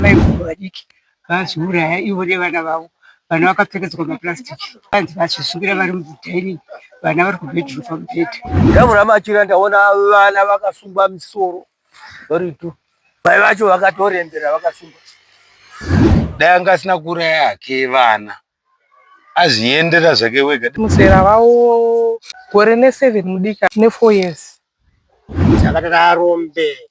Mai guru vadiki vazviuraya ivo nevana vavo vana vakapfekedzwa maplastic vanzi vazvisukira vari mudining vana vari kubedroom pamubhedha ndavona machira ndaona vana vakasungwa misoro vari two mai vacho vakatorembera vakasungwa dai anga asina kuuraya hake vana azviendera zvake wega muzera vavo gore neseven mudika nefour years saka takarombe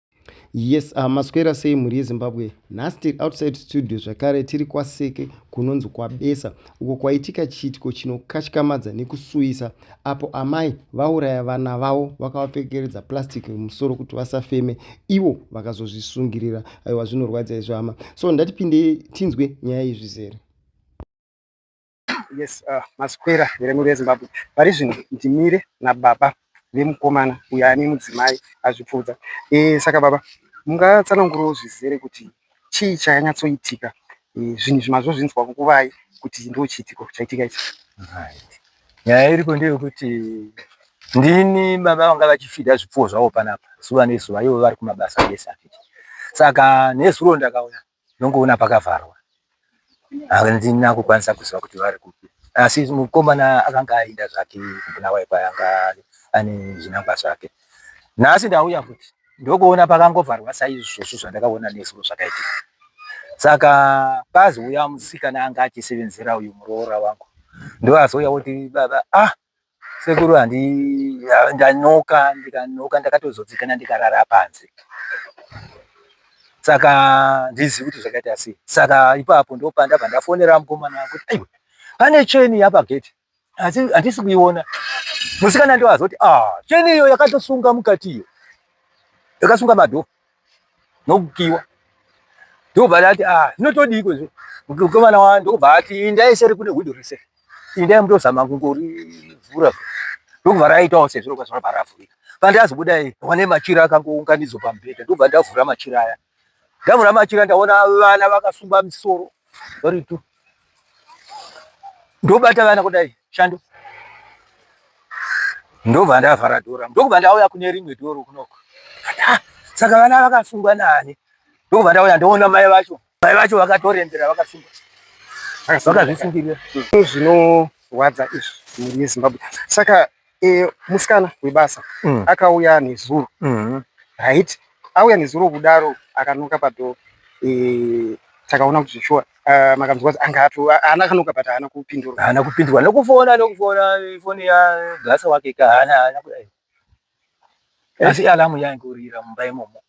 Yes, uh, maswera sei mhuri yeZimbabwe? Nhasi tiri outside studio zvakare tiri kwaSeke kunonzi kwaBesa uko kwaitika chiitiko chinokatyamadza nekusuwisa apo amai vauraya vana vavo vakavapfekeredza plastic mumusoro kuti vasafeme ivo vakazozvisungirira. Aiwa zvinorwadza izvo hama. So ndatipinde tinzwe nyaya iyi zvizere. yes uh, maswera here muri vezimbabwe pari zvino ndimire nababa vemukomana uyo ane mudzimai azvipfuudza e, saka baba mungatsanangurawo zvizere kuti chii chayanyatsoitika e, zvinhu zvimazvo zvinzwa kukuvai kuti ndo chiitiko chaitika ichi nyaya iriko ndeyekuti ndini baba vanga vachifida zvipfuwo zvavo panapa zuva nezuva ivo vari kumabasa ese saka nezuro ndakauya Ndongoona pakavharwa handina kukwanisa kuziva kuti vari kupi asi mukomana akanga aenda zvake kuBulawayo kwaanga ane zvinangwa zvake. Nhasi ndauya futi ndokuona pakangovharwa saizvozvo zvandakaona nesu zvakaitika. Saka pazouya musikana anga achisevenzera uyu muroora wangu ndoazouya oti baba ah Sekuru handi ndanoka ndikanoka ndakatozodzikana ndikarara panze saka ndizivi kuti zvakaita sei saka ipapo ndopandabva ndafonera mukomana kuti aiwa pane cheni yapagedhi asi handisi kuiona musikana ndoazoti ah cheni iyo yakatosunga mukati iyo yakasunga madhoo nokukiwa ndokubva ndati a ah, zvinotodiiko izvo mukomana wani ndokubva ati indai seri kune hwindo rese indai mutozama kungorivhura ndokubva raitawo sezviro kwazvo rabva ravhurika pandazobudai wane machira akangounganidzwa pamubhedha ndokubva ndavhura machira aya ndavhura machira ndaona vana vakasungwa misoro vari tu ndobata vana kudai shando ndobva ndavhara dhora ndokubva ndauya kune rimwe dhoro kunoko ah, saka vana vakasungwa nani ndokubva ndauya ndoona mai vacho mai vacho vakatorembera vakasungwa vakazvisungirira zvinorwadza izvi mhuri yezimbabwe saka e, musikana webasa mm. akauya nezuro mm. right auya nezuro kudaro akanoka padhoo e, takaona kuti zveshuwa uh, makanzwa kuti anga ato haana kanoka but haana kupindurwa haana kupindurwa nokufona nokufona ifoni yagasa wake ka haana haana kudai asi alamu yainge urira mumba imomo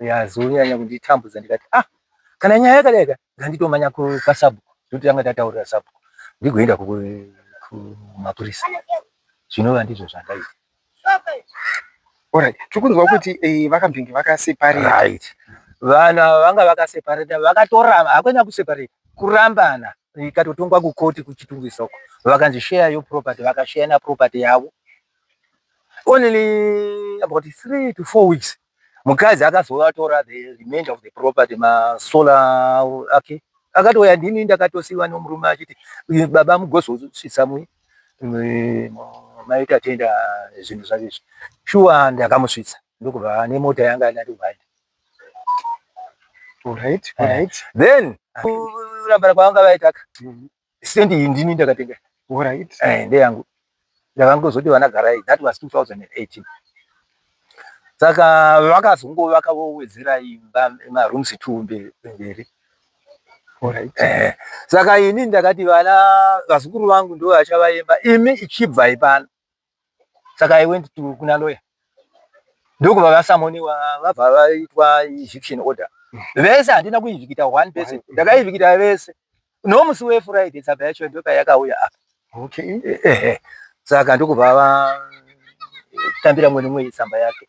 yazonyanya kunditambudza ndikati ah kana nyaya yakadai ka nganditomanya kwasabhuku nekuti tanga tataurira sabhuku ndigoenda kumapurisa zvinova ndizvo zvandaita Alright, tikukunzwa kuti eh, vakambenge vakaseparate. Right. Vana vanga vakaseparate, vakatoramba hakwena kuseparate, kurambana ikatotongwa kukoti kuchitungisa uko. Vakanzi share your property, vakashare na property yavo. Only about 3 to 4 weeks mukadzi akazovatora the remainder of the property masola ake akatouya ndini ndakatosiva nomurume achiti baba mugozosvitsa mwe maita tenda zvinhu zvake izvi shuwa ndakamusvitsa ndokubva nemota yanga anati uhaida then kurambana kwavanga vaitaka Stand iyi ndini ndakatenga. Alright. Eh, ndeyangu. Ndakangozoti vana garai. That was 2018. Saka vakazongo vakawedzera imba ma rooms two mberi. Alright. Eh. Saka ini ndakati vana vazukuru vangu ndo vachava imba. Imi ichibva ipana. saka i went to kuna lawyer ndokubva vasamonewa vabva vaitwa eviction order vese handina kuivhikita one person ndakaivhikita vese nomusi wefriday tsamba yacho ndoka yakauya apa okay. ehe saka ndokubva vatambira mweni mweyi tsamba yake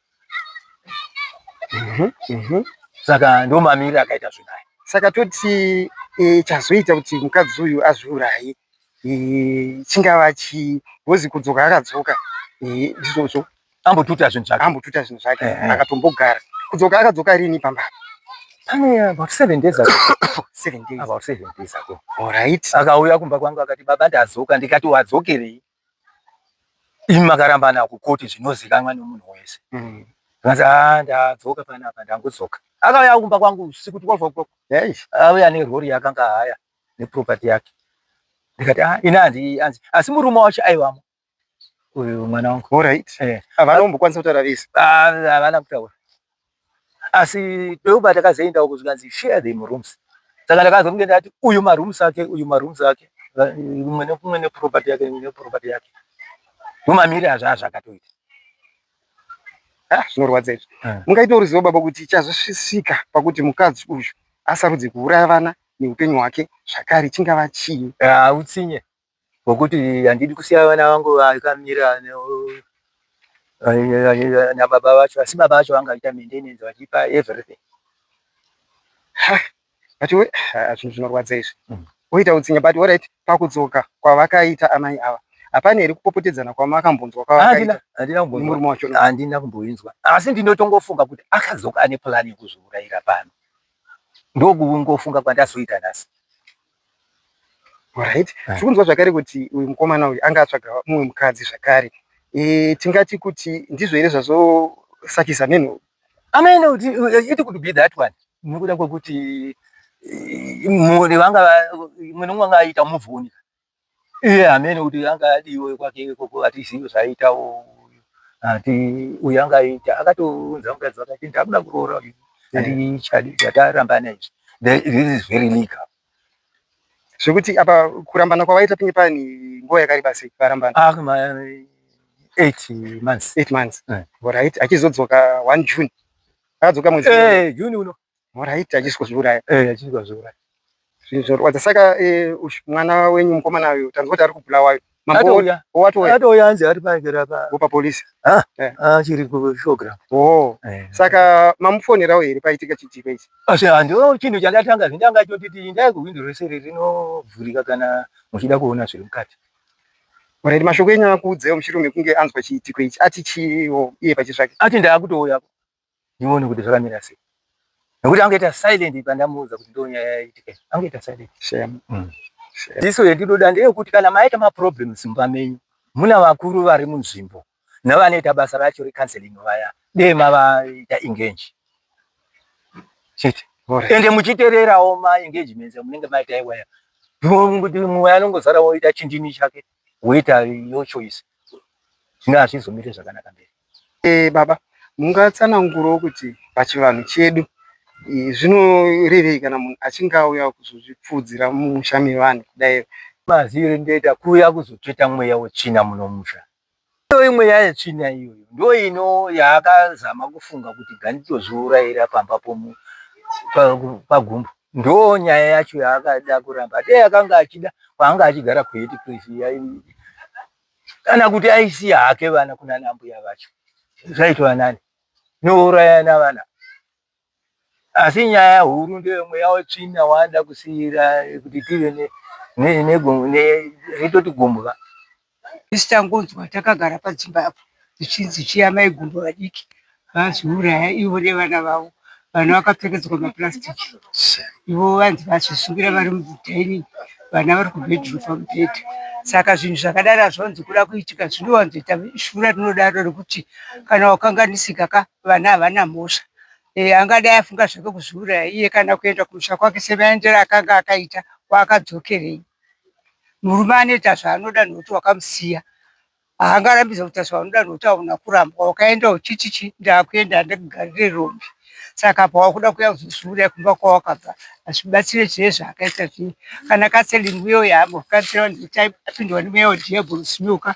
Mhm, mhm. saka ndo mamiriro akaita zvinaya saka toti e, chazoita kuti mukadzi uyu azviuraye e, chingava chii bhozi kudzoka akadzoka e, ndizvozvo ambotuta zvinhu zvake ambotuta zvinhu zvake Eh, eh. akatombogara kudzoka akadzoka rini pamba pane about seven days ago seven days about seven days ago alright akauya kumba kwangu akati baba ndadzoka ndikati wadzokerei imi makarambana kukoti zvinozikanwa nemunhu wese mm. vanzi ah, ndadzoka panapa ndangudzoka akauya kumba kwangu usiku 12 o'clock auya nerori yakanga haya neproperty yake ndikati ah, ini hanzi anzi asi murume wacho aivamo uyu mwana wangu eh. havana kumbokwanisa kutaura vese ah, havana kutaura asi peuba takazoenda uko zvikanzi share the rooms saka ndakazonge ndati uyu marooms ake uyu marooms ake umwe nekumwe neproperty yake neproperty yake nomamiri azvo azvo akatoita ah, zvinorwadza izvi eh. mungaita ruzivo baba kuti chazosvika pakuti mukadzi uyu asarudze kuuraya vana neupenyu hwake zvakare chingava chii hautsinye ah, Ngokuti handidi kusiya vana vangu vakamira nababa vacho, asi baba vacho vangaita maintenance vachipa everything. But we ah, zvinhu zvinorwadza izvi mm. woita utsinye but orit pakudzoka kwavakaita amai ava hapana here kupopotedzana kwamakambonzwa kwavakaitamurume wacho handina kumboinzwa asi ndinotongofunga kuti akadzoka ane plani yekuzviurayira pano ndokungofunga kwandazoita nhasi Alright. Ah. Tiri kunzwa zvakare kuti uyu mukomana uyu anga atsvaga mumwe mukadzi zvakare. Eh, tingati kuti ndizvo here zvazosakisa meno? Ameno kuti eh, it could be that one. Nokuda kwekuti eh, mune vanga mune vanga aita move on. iye hamene kuti anga adiwe kwake ikoko hatizivi zvaaitawo hati uyu anga aita akatounza mukadzi wake ati ndakuda kuroora uyu handichadi eh. zvatarambana izvi this is very legal zvekuti apa kurambana kwavaita pinge pani nguva yakareba sei varambana ah, eight months eight months eh. right achizodzoka one june akadzoka mwezi eh, june uno Horaiti achisi kuzviuraya. Eh achisi kuzviuraya. Zvinhu zvorwadza saka eh, mwana wenyu mukomana uyu tanzwa kuti ari kubulawa uyu. Mambo watouya. Atouya anzi ari paigera pa. Upa police. Ah. Eh. Ah chiri ku program. Oh. Eh. Saka mamufonerawo here paitika chitiko ichi? Asi ah, ndo chinhu chandatanga zvindanga choti tindai kuhwindo rese rinovhurika kana muchida kuona zviri mukati. Mureri mashoko enyu akuudzewo muchirume kunge anzwa chiitiko ichi ati chiiwo iye pachitsvake. Ati ndaakutouya. ndione kuti zvakamira sei nekuti angaita silent pandamuudza kuti ndo nyaya yaitika angaita silent shame mm. iso yendinoda ndeyekuti kana maita maproblems mumba menyu muna vakuru vari munzvimbo navanoita basa racho recounseling vaya dee mavaita engage chete ende muchitererawo maengagements amunenge maita iwaya mumwe anongozara woita chindini chake woita your choice zvino hazvizomire zvakanaka mberi e, baba mungatsanangurawo kuti pachivanhu chedu zvinorevei kana munhu achinge auya kuzozvipfuudzira mumusha mevanhu kudai maziviro ndoita kuuya kuzotsveta mweya wetsvina munomusha Iyoyi mweya yetsvina iyoyo ndiyo ino yaakazama kufunga kuti ganditozviurayira pamba pomu pagumbo ndiyo nyaya yacho yaakada kuramba dei akanga achida kwaanga achigara kuheti place kana kuti aisiya hake vana kunana mbuya vacho zvaitova nani nourayana vana Asi nyaya huru ndeye mweya wetsvina waada kusiira kuti tive neritoti gumbwa. Isu tangonzwa takagara padzimba apo zvichinzi chiya mai gumbo vadiki vazviuraya ivo nevana vavo vana vakapfekedzwa maplastic ivo vanzi vazvisungira vari mudining vana vari kubedroom pamubhedha saka zvinhu zvakadaro hazviwanzi kuda kuitika zvinowanzoita shura rinodaro rekuti kana wakanganisika ka vana havana mhosva e, angadai afunga zvake kuzviuraya iye kana kuenda kumusha kwake semaendero akanga akaita kwaakadzokerei murume anoita zvaanoda nokuti wakamusiya haangarambidza kuita zvaunoda nokuti auna kurambwa wakaenda uchiti chi ndakuenda andakugarire rombe saka pawakuda kuya kuzozviuraya kumba kwawakabva hazvibatsire zvee zvaakaita zvii kana kaseling uyo yaambokanisira vanhu apindwa nemweya wadhiabhorosi nyoka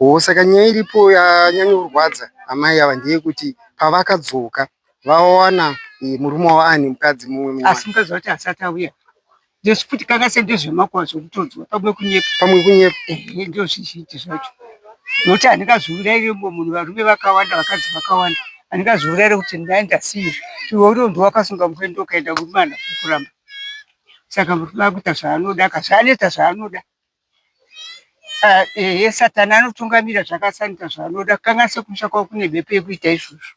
Oh, saka nyaya iripo yanyanya kurwadza amai ava ndeyekuti pavakadzoka vawana eh, murume wavo ane mukadzi mumwe mumwe asi mukadzi wati asati auya ndosi futi kanga se ndezvemakwa zvokutodzwa pamwe kunyepa pamwe kunyepa ehe ndo zvizhinji zvacho nokuti handingazouraire mumwe munhu varume vakawanda vakadzi vakawanda handingazouraire kuti ndai ndasiya iwe unondi wakasunga murume ndokaenda murume hana kukuramba saka murume akuita zvaanoda ka zvaanoita zvaanoda Ah, ehe satani anotungamira zvakasanika zvaanoda kanganisa kumusha kwavo kune mhepo yekuita izvozvo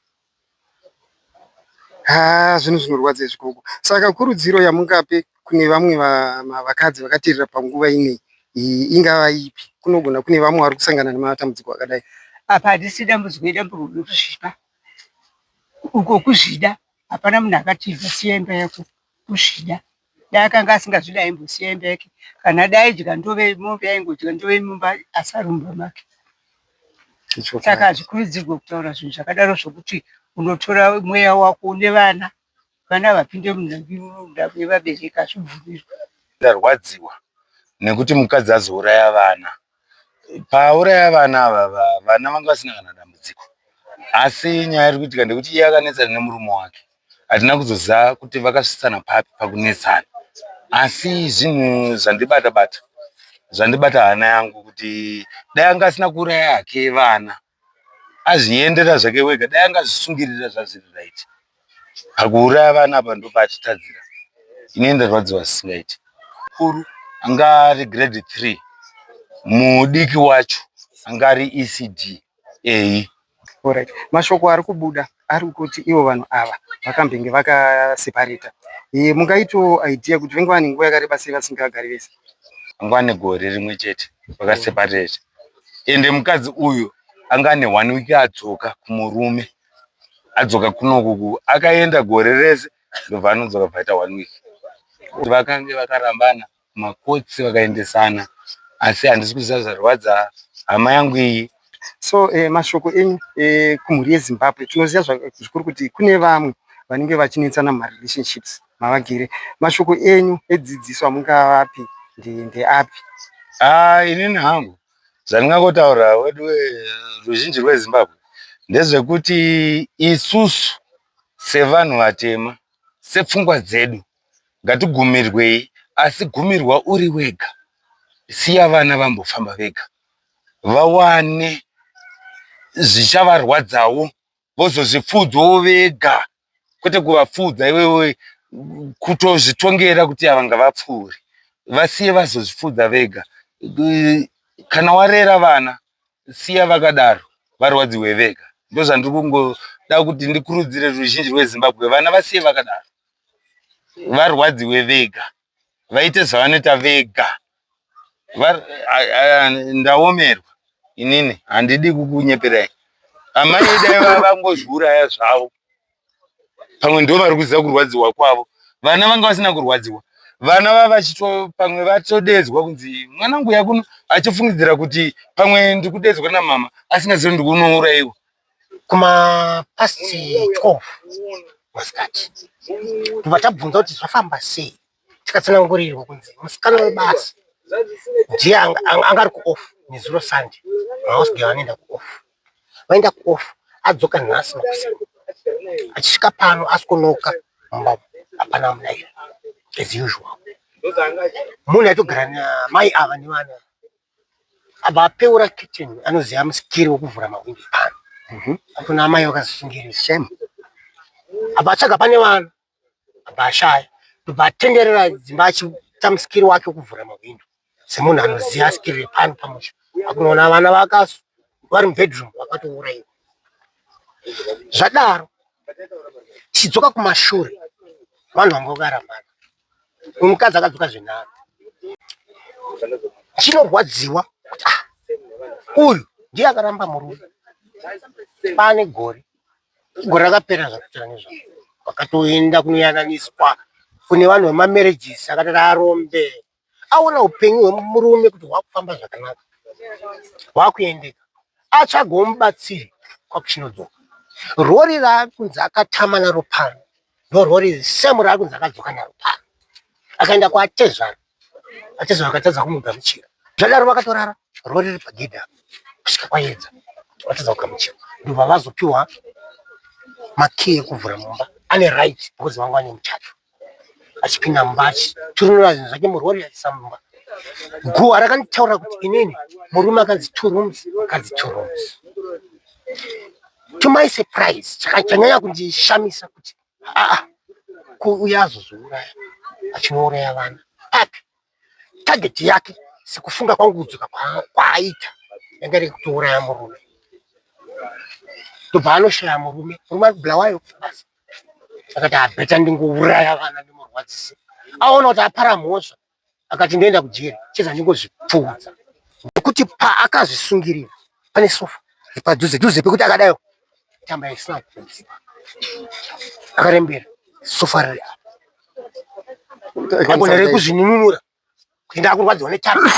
haa zvinhu zvinorwadza izvi gogo saka kurudziro yamungape kune vamwe va- ma- vakadzi vakateerera panguva inei iyi ingava ipi kunogona kune vamwe vari kusangana nematambudziko akadai apa handisi dambudziko idambudziko rekuzvipa uko kuzvida hapana munhu akatiza siya imba yako kuzvida Dai akanga asingazvidi aimbosiya imba yake kana dai aidya ndove mombe aingodya ndove mumba asi ari mumba make. Saka hazvikurudzirwe kutaura zvinhu zvakadaro zvokuti unotora mweya wako une vana vana vapinde munhambimunda yevabereki hazvibvumirwe. Ndarwadziwa nekuti mukadzi azouraya vana. Paauraya vana ava vana vanga vasina kana dambudziko asi nyaya iri kuitika ndekuti iye akanetsana nemurume wake hatina kuzoziva kuti vakasvitsana papi pakunetsana asi zvinhu zvandibata bata zvandibata hana yangu kuti dai anga asina kuuraya hake vana Azviendera zvake wega dai angazvisungirira zvazviri right. Pakuuraya vana apa ndopaachitadzira. Ini ndarwadziwa zvisingaiti. Mukuru anga ari grade 3 mudiki wacho anga ari ECD. Eyi. Alright. Mashoko ari kubuda ari kuti ivo vanhu ava vakambenge vakasepareta eh, mungaitawo idea kuti venge vane nguva yakareba sei vasingagari vese anga ane gore rimwe chete vakasepareta ende mukadzi uyu anga ane one week adzoka kumurume adzoka kunokuku akaenda gore rese ndobva anodzoka bvaita one week vakange vakarambana Makotsi vakaendesana asi handisi kuziva zvarwadza hama yangu iyi. So eh, mashoko enyu eh, kumhuri yeZimbabwe tinoziva zvikuru kuti kune vamwe vanenge vachinetsana mumarelationships mavagere. Mashoko enyu edzidziso amungavapi ndeapi? Ah, inini hangu zvandingangotaura wedu ruzhinji rweZimbabwe ndezvekuti isusu sevanhu vatema, sepfungwa dzedu ngatigumirwei asi gumirwa uri wega siya vana vambofamba vega vawane zvichavarwadzawo vozozvipfuudzawo vega kwete kuvapfuudza iwewe kutozvitongera kuti ava ngavapfuure vasiye vazozvipfuudza vega kana warera vana siya vakadaro varwadziwe vega ndozvandiri kungoda kuti ndikurudzire ruzhinji rwezimbabwe vana vasiye vakadaro varwadziwe vega vaite zvavanoita vega ndaomerwa inini handidi kukunyeperai amai dai vavangozviuraya zvavo pamwe ndo vari kuziva kurwadziwa kwavo vana vanga vasina kurwadziwa vana vavachito pamwe vatodedzwa kunzi mwana nguya kuno achifungidzira kuti pamwe ndikudedzwa namama asingazivi ndikunouraiwa kuma past 12 masikati tobva tabvunza kuti zvafamba sei tikatsanangurirwa kunzi musikana webasa ndiye anga ari kuoff nezuro sande maosge vanoenda kuoff vaenda kuoff adzoka nhasi makuseni achisvika pano asikonoka mumba hapana munaira as usual munhu aitogara namai ava nevana abva apeura kitchen anoziva musikiri wekuvhura mahwindi pano mhm. akuna amai vakazisungirira shame abva atsvaga pane vana abva ashaya ndobva atenderera dzimba achiita musikiri wake wekuvhura mahwindo semunhu anoziva sikiri repano pamusha akunoona vana vakasu vari mubedroom vakatouraiwa zvadaro chidzoka kumashure vanhu vanga vakarambana mukadzi akadzoka zvenharo chinorwadziwa kuti ah, uyu ndiye akaramba murume pane gore gore rakapera zvakutira nezvavo vakatoenda kunoyananiswa kune vanhu vemamarriages akatara arombe aona upenyu hwemurume kuti hwakufamba zvakanaka hwakuendeka atsvagawo mubatsiri kwakuchinodzoka rori raakunzi akatama naro pano Ndorori same raakunzi akadzoka naro pano. Akaenda kwatezvara. Atezvara akatadza kumugamuchira. Zvadaro vakatorara rori riri pagedhi apo kusvika kwayedza. Vatadza kugamuchira. Ndobva vazopiwa makiyi ekuvhura mumba. Ane right because vanga vane muchato. Achipinda mumba achiturunura zvinhu zvake murori achiisa mumba. Guhwa rakanditaurira kuti inini murume akanzi two rooms, akanzi two rooms. to my surprise chakanyanya kundishamisa kuti aa kuuya azozviuraya achinouraya vana api target yake sekufunga kwangu kudzoka kwaaita yanga iri kutouraya murume ndobva anoshaya murume murume ari kubulawayo basi akati abeta ndingouraya vana ndimurwadzise aona kuti apara mhosva akati ndoenda kujeri cheza ndingozvipfuudza nekuti paakazvisungirira pane sofa padhuze dhuze pekuti akadayo tamba yaisina kuziva akarembera sofa riri agona rekuzvinunura kuenda akurwadziwa netamba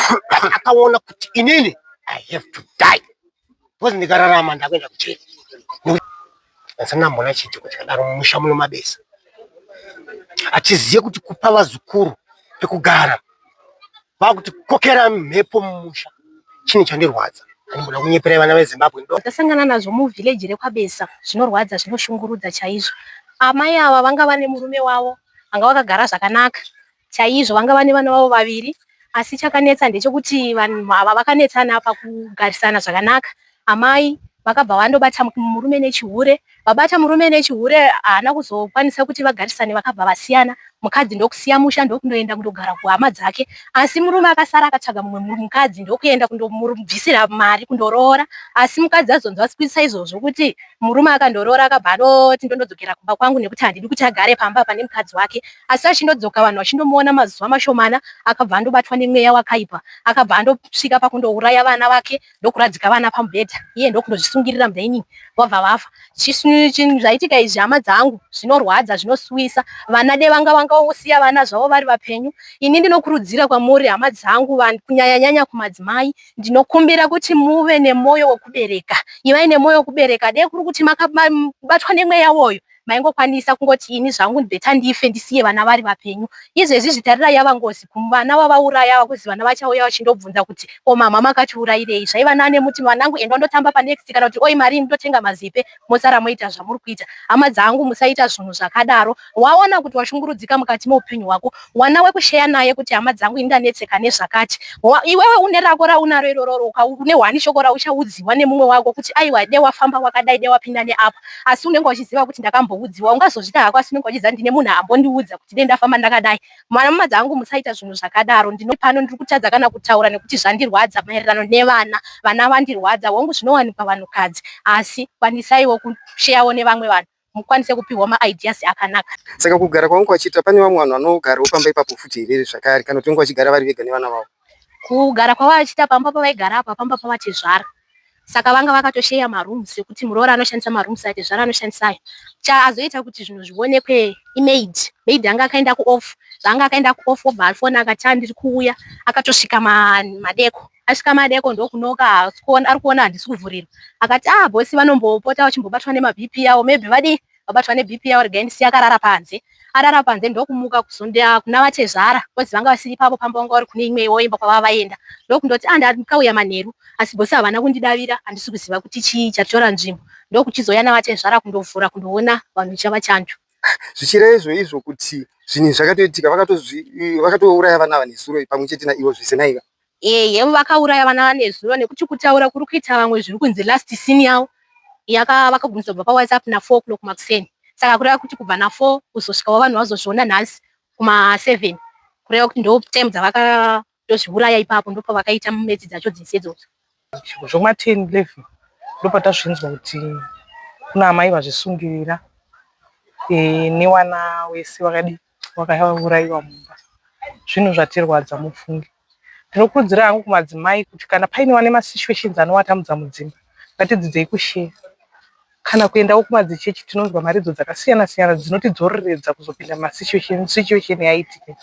akaona kuti inini i have to die Because ndikararama ndakuenda kuchurch. Ndasana mbona chiti kuti kadaro mumusha muno mabesa. Atiziye kuti kupa vazukuru pekugara. Vakuti kokera mhepo mumusha. Chini chandirwadza. Ndinoda kunyepera vana veZimbabwe. Ndasangana nazvo mu village rekwabesa. Zvinorwadza zvinoshungurudza chaizvo. Amai ava vanga vane murume wavo anga vakagara zvakanaka. chaizvo vanga vane vana vavo vaviri asi chakanetsa ndechekuti vanhu ava vakanetsana pakugarisana zvakanaka amai vakabva vandobata murume nechihure vabata murume nechihure haana kuzokwanisa kuti vagarisane vakabva vasiyana mukadzi ndokusiya musha ndokundoenda kundogara kuhama dzake asi murume akasara akatsvaga mumwe mukadzi ndokuenda kundomubvisira mari kundoroora asi mukadzi azonzwa sikuisa izvozvo kuti murume akandoroora akabva anoti ndondodzokera kumba kwangu nekuti handidi kuti agare pamba pane mukadzi wake asi achindodzoka vanhu vachindomuona mazuva mashomana akabva andobatwa nemweya wakaipa akabva andosvika pakundouraya vana vake ndokuradzika vana pamubhedha iye ndokundozvisungirira mudining vabva vafa zvaitika izvi hama dzangu zvinorwadza zvinosuwisa vana de vanga vangausiya vana zvavo vari vapenyu ini ndinokurudzira kwamuri hama dzangu vanhu kunyanyanyanya kumadzimai ndinokumbira kuti muve nemwoyo wekubereka ivai nemwoyo wekubereka de kuri kuti makabatwa nemweya woyo maingokwanisa kungoti ini zvangu beta ndife ndisiye vana vari vapenyu izvezvi zvitarira yava ngozi kumuvana wavauraya ava kuzi vana vachauya vachindobvunza kuti ko mama makatiurairei zvaiva nane muti vanangu endwa ndotamba panext kana kuti oi marii ndotenga mazipe mosara moita zvamuri kuita hama dzangu musaita zvunhu zvakadaro waona kuti washungurudzika mukati meupenyu hwako wana wekusheya naye kuti hama dzangu ini ndanetseka nezvakati iwewe une rako raunaro irororo une hwani shoko rauchaudziwa nemumwe wako kuti aiwa de wafamba wakadai de wapinda neapa asi unenge uchiziva kuti ndakamboudziwa ungazozvita hako asi unenge uchiziva ndine munhu ambondiudza kuti dei ndafamba ndakadai mwana mama dzangu musaita zvinhu zvakadaro ndino pano ndiri kutadza kana kutaura nekuti zvandirwadza maererano nevana vana vandirwadza hongu zvinowanikwa vanhukadzi asi kwanisaiwo kusheyawo nevamwe vanhu mukwanise kupihwa maideas akanaka saka kugara kwangu kwachiita pane vamwe vanhu vanogarawo pamba ipapo futi here zvakare kana kuti vange vachigara vari vega nevana vavo kugara kwavachiita pamba pavaigara apa pamba pavatezvara saka vanga vakatosheya marooms ekuti muroora anoshandisa marooms atezvara anoshandisa ayo chaazoita kuti zvinhu zvionekwe imaid maid anga akaenda kuoff zvaanga akaenda kuoff obva afona akati andiri kuuya akatosvika madeko asvika madeko ndokunoka ari kuona handisi kuvhurirwa akati ah bosi vanombopota vachimbobatwa nemabp yavo maybe vadii vabatwa nebp yavo regai ndisiya akarara panze arara panze ndokumuka kuzonda kuna vatezvara kozi vanga vasiri ipapo pamba vanga vari kune imwe iwo imba kwavava vaenda ndokundoti ah ndakauya manheru asi bosi havana kundidavira handisi kuziva kuti chii chatora nzvimbo ndokuchizouya navatezvara kundovhura kundoona vanhu chava chanjo zvichireva izvo izvo kuti zvinhu zvakatoitika vakatouraya vana vanesuro pamwe chete naivo zvese naiva Ehe vakauraya vana vanezuro nekuti kutaura kuri kuita vamwe zviri kunzi last scene yavo yaka vakagumisa kubva pawhatsapp na 4 o'clock makuseni saka kureva kuti kubva na 4 kuzosvikawo vanhu vazozviona nhasi kuma 7 kureva kuti ndo time dzavakatozviuraya ipapo ndopavakaita metsi dzacho dzese idzodzo Zvekuma 10 11 ndopatasvinzwa kuti kuna amai vazvisungirira eh, newana wese wakadi wakauraiwa mumba. Zvinhu zvatirwadza mufunge. Ndinokurudzira hangu kumadzimai kuti kana paine wane masituations anowatamudza mudzimba ngatidzidzei kusheya. Kana kuendawo kumadzichechi tinonzwa mharidzo dzakasiyana siyana dzinotidzoreredza kuzopinda mumasituation situation yaitika.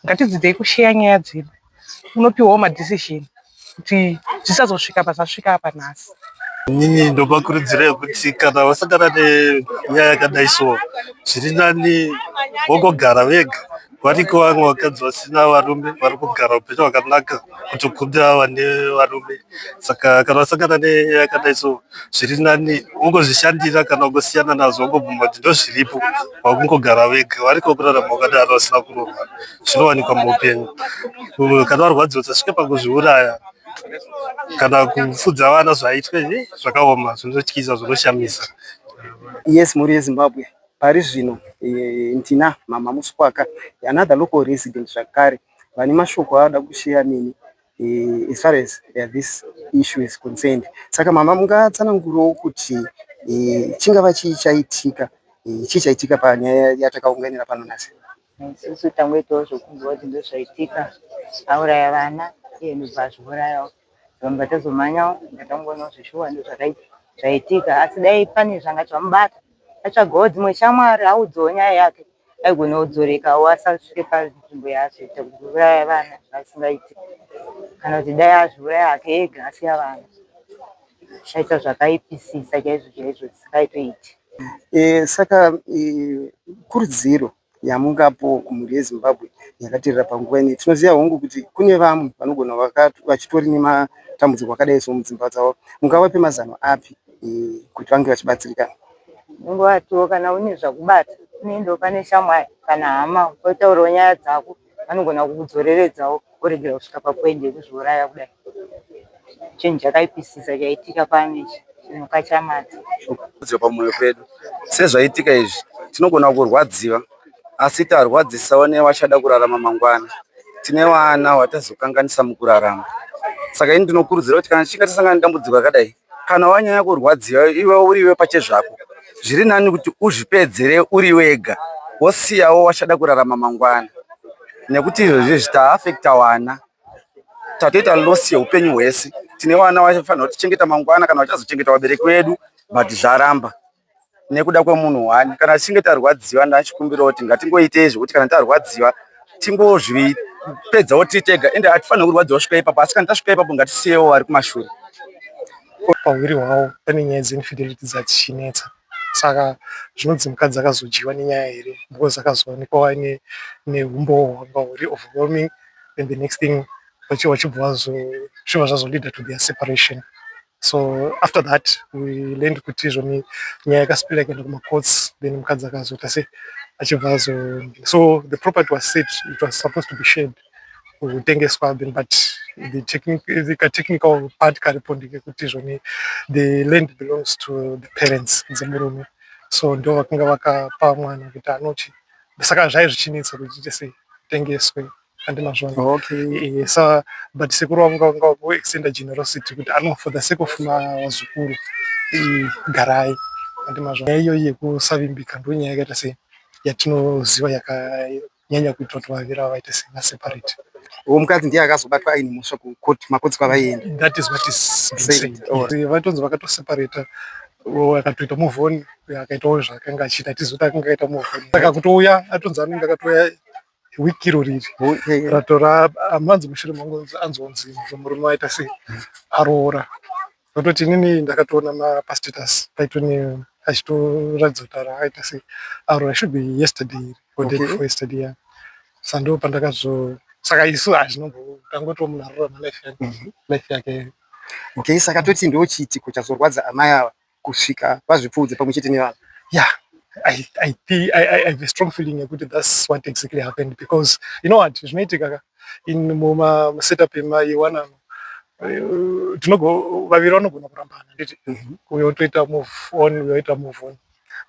Ngatidzidzei kusheya nyaya dzedu unopiwawo madecision kuti zvisazosvika apa zvasvika apa nhasi. Inini ndovakurudzira yekuti kana vasangana nenyaya yakadai so zviri nani vongogara vega. variko vamwe vakadzi vasina varume vari kugara upenyu hwakanaka kutokunda vane varume saka kana vasangana nenyaya yakadai so zviri nani ungozvishandira kana ungosiyana nazvo wangobvuma kuti ndozviripo vakungogara vega variko kurarama vakadaro vasina kurohwa zvinowanikwa muupenyu kana varwadziwa usasvike pakuzviuraya kana kufudza vana zvaitwe zvakaoma zvinotyisa zvinoshamisa yes mhuri yezimbabwe Pari zvino ndina Mhamha Muswaka, another local resident zvakare, vane mashoko avada kusheya neni as far as this issue is concerned. Saka Mhamha mungatsanangurewo kuti chingava chii chaitika, chii chaitika panyaya yatakaunganira pano nhasi? Isusu tangoitawo zvokunzwa kuti ndozvaitika, auraya vana iye ndobva azviurayawo. Zvanga tazomhanyawo ndatangoona kuti zveshuwa ndozvakaitika zvaitika asi dai pane zvanga zvamubata atsvagawo dzimwe shamwari audzawo nyaya yake aigona kudzorekawo asasvike panzvimbo yaazoita kuuraya vana zvasingaiti kana kuti dai azviuraya hake ega asiya vana zvichaita zvakaipisisa chaizvo chaizvo zvisingaitoiti e, saka e, kurudziro Yamuka apo kumhuri yeZimbabwe yakaterera panguva ineyi. Tinoziva hongu kuti kune vamwe vanogona vaka vachitori nematambudziko akadai so mudzimba dzavo. Mungavape mazano api kuti vange vachibatsirikana? Unongowatiwo kana une zvakubata unoendawo pane shamwari kana hama wotaurawo nyaya dzako. anogona kukudzoreredzawo woregera kusvika papoint yekuzviuraya kudai. Chinhu chakaipisisa chaitika pane chimuka chaMadzi. Kudzwa pamoyo pedu sezvaitika izvi tinogona kurwadziwa asi tarwadzisawo nevachada kurarama mangwana. Tine vana vatazokanganisa mukurarama saka ini ndinokurudzira kuti kana tichinge tasangana nedambudziko rakadai kana wanyanya kurwadziwa iwe uriwe pachezvako zviri nani kuti uzvipedzere uri wega wosiyawo wachada kurarama mangwana nekuti izvozvi zvitaafekta wana tatoita loss yeupenyu hwese tine vana vafanira kutichengeta mangwana kana vachazochengeta vabereki vedu but zvaramba nekuda kwemunhu one kana tichinge tarwadziwa ndachikumbirawo kuti ngatingoitei zvekuti kana tarwadziwa tingozvipedzawo tiri tega ende hatifanire kurwadziwa svika ipapo asi kana tasvika ipapo ngatisiyewo vari kumashure pahwiri hwavo pane nyaya dzeinfidelity dzadzichinetsa saka zvinonzi mukadzi akazodyiwa nenyaya here because akazoonekwa aine neumbowo hwanga huri overwhelming and the next thing vachibva vazozviva zvazolida to their separation so after that we learned kuti izvoni nyaya yakasipira ikaenda kumacourts then mukadzi akazoita se achibva azo so the property was set it was supposed to be shared kutengeswa then but the technique the technical part karipo ndekekuti izvoni the land belongs to the parents dzemurume so ndo vakanga vakapa mwana kuti anochi saka zvai zvichinetsa kuti ite sei tengeswe handina zvona okay eh, sa but sekuru vangu vanga ku extenda generosity kuti ano for the sake of mazukuru eh, garai handina zvona nyaya iyoyi yekusavimbika ndo nyaya yakaita sei yatinoziva yakanyanya kuitwa kuti vaviri ava vaite sei vaseparate uwo mukadzi ndiye akazobatwa aine mhosva kukoti makotsi kwavaienda that is what is vatonzi vakatoseparata akatoita muvhoni akaitawo zvaakanga achiita tizivi kuti akanga aita muvhoni saka kutouya atonzi anenge akatouya week iro riri ratora hanzi mushure mangu anzonzi murume waita sei aroora nototi inini ndakatoona mapastatus paitoni achitoratidza kuti aita sei aroora should be yesterday iri or day before yesterday ya sando pandakazo saka isu hazvinombo tangotiwo munhu aroora malife yake okay saka toti ndo chiitiko chazorwadza amai ava kusvika vazvipfuudze pamwe chete nevana yeah I, I, I, I have a strong feeling yekuti that's what exactly happened because you know what zvinoitika ka in muma setup ema yewana uh, tinogo vaviri vanogona kurambana nditi mhm. uyo toita move on uyo oita move on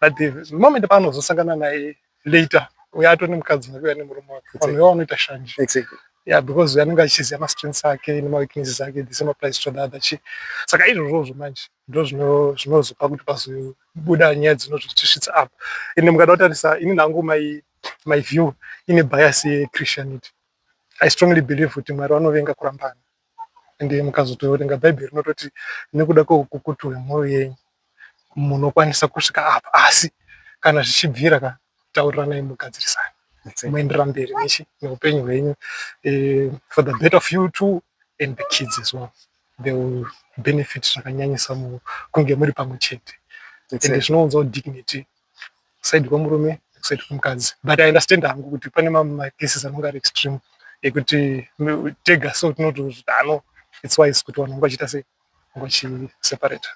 but the moment paanozosangana naye later uye ato nemukadzi wake uya nemurume wake vanhu veva vanoita shanje exactly. yeah, because uya anenge achiziva mastrengths ake nemaweaknesses ake the same applies to the other chi saka izvozvozvo manje ndo zvinozopa kuti pazobuda nyaya dzinozvitisvitsa apa ende mukada kutarisa ini nangu my, my view ine bias yechristianity i strongly believe kuti mwari vanovenga kurambana ende mukazotoverenga bhaibheri rinototi nekuda kweukukutu hwemwoyo yenyu munokwanisa kusvika apa asi kana zvichibvira ka tauriranai mugadzirisani moenderera mberi nechi neupenyu hwenyu eh, for the better of you too and the kids as well they will benefit zvakanyanyisa mu- kunge muri pamwe chete ende zvinounzawo dignity kuside kwemurume nekuside kwemukadzi but i understand hangu kuti pane mamwe macases anonge ari extreme ekuti tega so tinotozvita no its wise kuti vanhu vanga vachiita sei vanga vachiseparata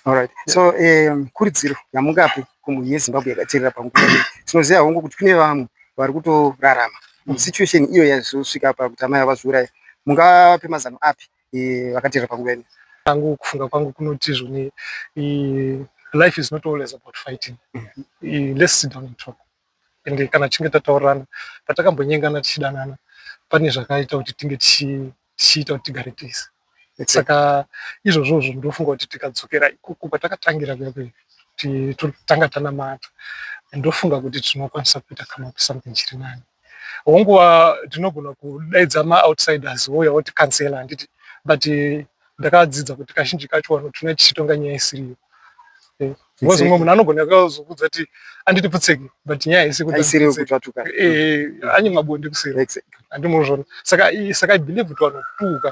Alright. So um, kurudziro yamungapi kumhuri yeZimbabwe yakaterera panguva iyi tinoziva hongu kuti kune vamwe vari kutorarama mm. situation iyo yazosvika pakuti amai avazviuraya mungape mazano api vakateera panguva ino. Hangu kufunga kwangu kunoti zvoni life is not always about fighting mm-hmm. let's sit down and talk and kana tichinge tataurirana patakambonyengana tichidanana pane zvakaita kuti tinge tichiita kuti tigare tese saka izvozvozvo ndofunga kuti tikadzokera ikoko kwatakatangira kuya kuya kuti totanga tanamata ndofunga kuti tinokwanisa kuita kama kuti something chiri nani hongu tinogona kudaidza maoutsiders wouya woti cancela handiti but eh, ndakadzidza kuti kazhinji kacho vanotuna tichitonga nyaya isiriyo eh, because mumwe munhu anogona kazokudza ti anditi putseki but nyaya haisi kutatuka eh, anye mabonde kuseri handimozvona saka saka i believe kuti vanotuka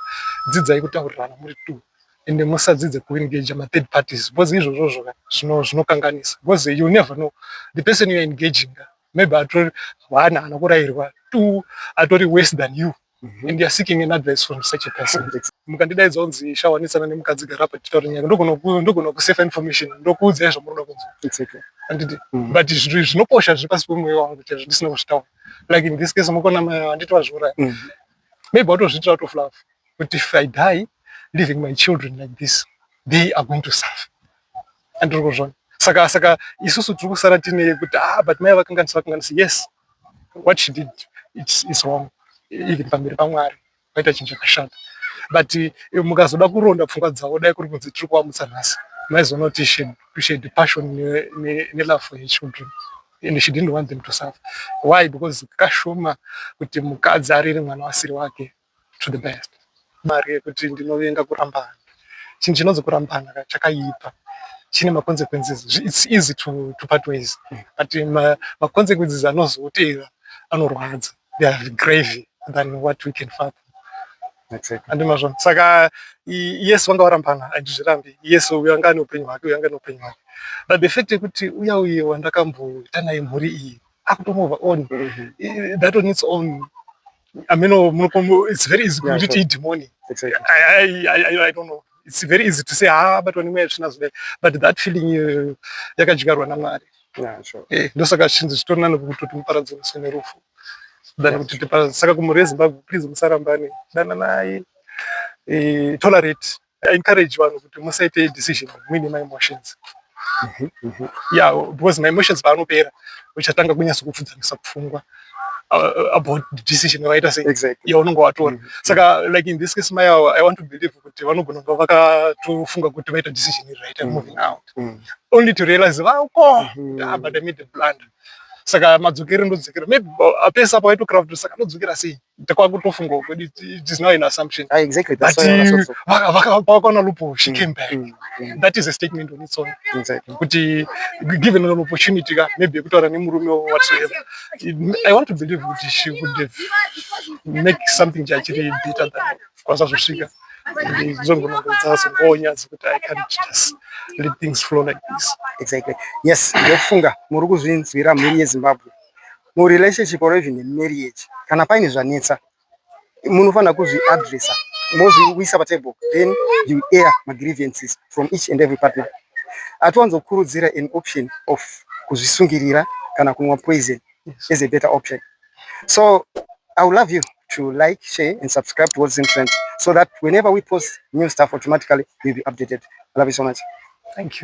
dzidzai kutaurirana muri two ende musadzidze kuengage mathird parties because izvozvozvo zvinokanganisa because you never know the person youare engaging maybe atori one haana kurairwa two atori worse than you mhm. and youare seeking an advice from such a person mukandidaidza unzi shawanitsana nemukadzi gara apa titaure nyaya ndogona kusafe information ndokuudzai zvamunoda kunzwa anditi mhm. but zvinhu zvinokosha zviri pasi pemwoyo wangu chaizvo ndisina kuzvitaura like in this case mukona mai handiti vazviuraya mhm. maybe watozviitira out of love but if i die leaving my children like this they are going to suffer andiri kuzvona saka saka isusu tiri kusara tine yekuti ah but mai vakanganisa vakanganisa yes what she did it's, it's wrong even pamberi pamwari paita chinhu chakashata but eh, mukazoda kuronda pfungwa dzavo dai kuri kunzi tiri kuvamutsa nhasi maizoona kuti she appreciate passion nelove for her children and she didn't want them to suffer why because kashoma kuti mukadzi arere mwana wasiri wake to the best mari yekuti ndinovenga kurambana chinhu chinonzi kurambana chakaipa chine maconsequences its easy to, to part ways but maconsequences ma anozotevera anorwadza they are gravy than what we can fathom andimazvo saka yesu vanga varambana handizvirambi yesu uyo anga ane upenyu hwake uyo anga ane upenyu hwake but the fact yekuti uya uye wandakamboita naye mhuri iyi akutomova on mm-hmm. that on its own I mean, oh, it's very easy yeah, to eat demoni. Exactly. I, I, I, I don't know. It's very easy to say, ah, but when we're children, but that feeling, uh, yakajigarwa na Mwari. Yeah, sure. Eh, ndosaka chinzi chitorina nokutoti muparadzi uswe nerufu. Dana kuti tipa saka kumuri Zimbabwe please musarambane. Dana naye. Eh, tolerate. I encourage vanhu kuti musaite decision muine my emotions mhm, mhm. yeah because my emotions paanopera uchatanga kunyasa kupfudzanisa pfungwa uh, about decision yavaita sei exactly. yaunenge watora mhm, saka like in this case maya i want to believe kuti vanogona kuva vakatofunga kuti vaita decision iri right moving out only to realize vako ah, but i made a blunder saka madzokere ndodzokera maybe uh, apesa apo vaitokravd saka ndodzokera sei kwakutofunga kuti it is now an assumption ah, exactly that's but uh, vakaona lupo she mm, came back mm, mm. that is a statement on its own exactly kuti given an opportunity ka maybe yekutaura nemurume whatsoever i want to believe kuti she would have make something chachiri better than kwanisa zvosvika ndizongonongo dzazongonya dzekuti i can't just let things flow like this exactly yes ndofunga muri kuzvinzwira mhiri yezimbabwe murelationship or even marriage kana paine zvanetsa munofanira kuzvi addressa mozviisa patable then you air magrievances from each and every partner atiwanzokurudzira an option of kuzvisungirira kana kunwa poison is a better option so i will love you to like share and subscribe to what's in trend so that whenever we post new stuff automatically you'll be updated i love you so much thank you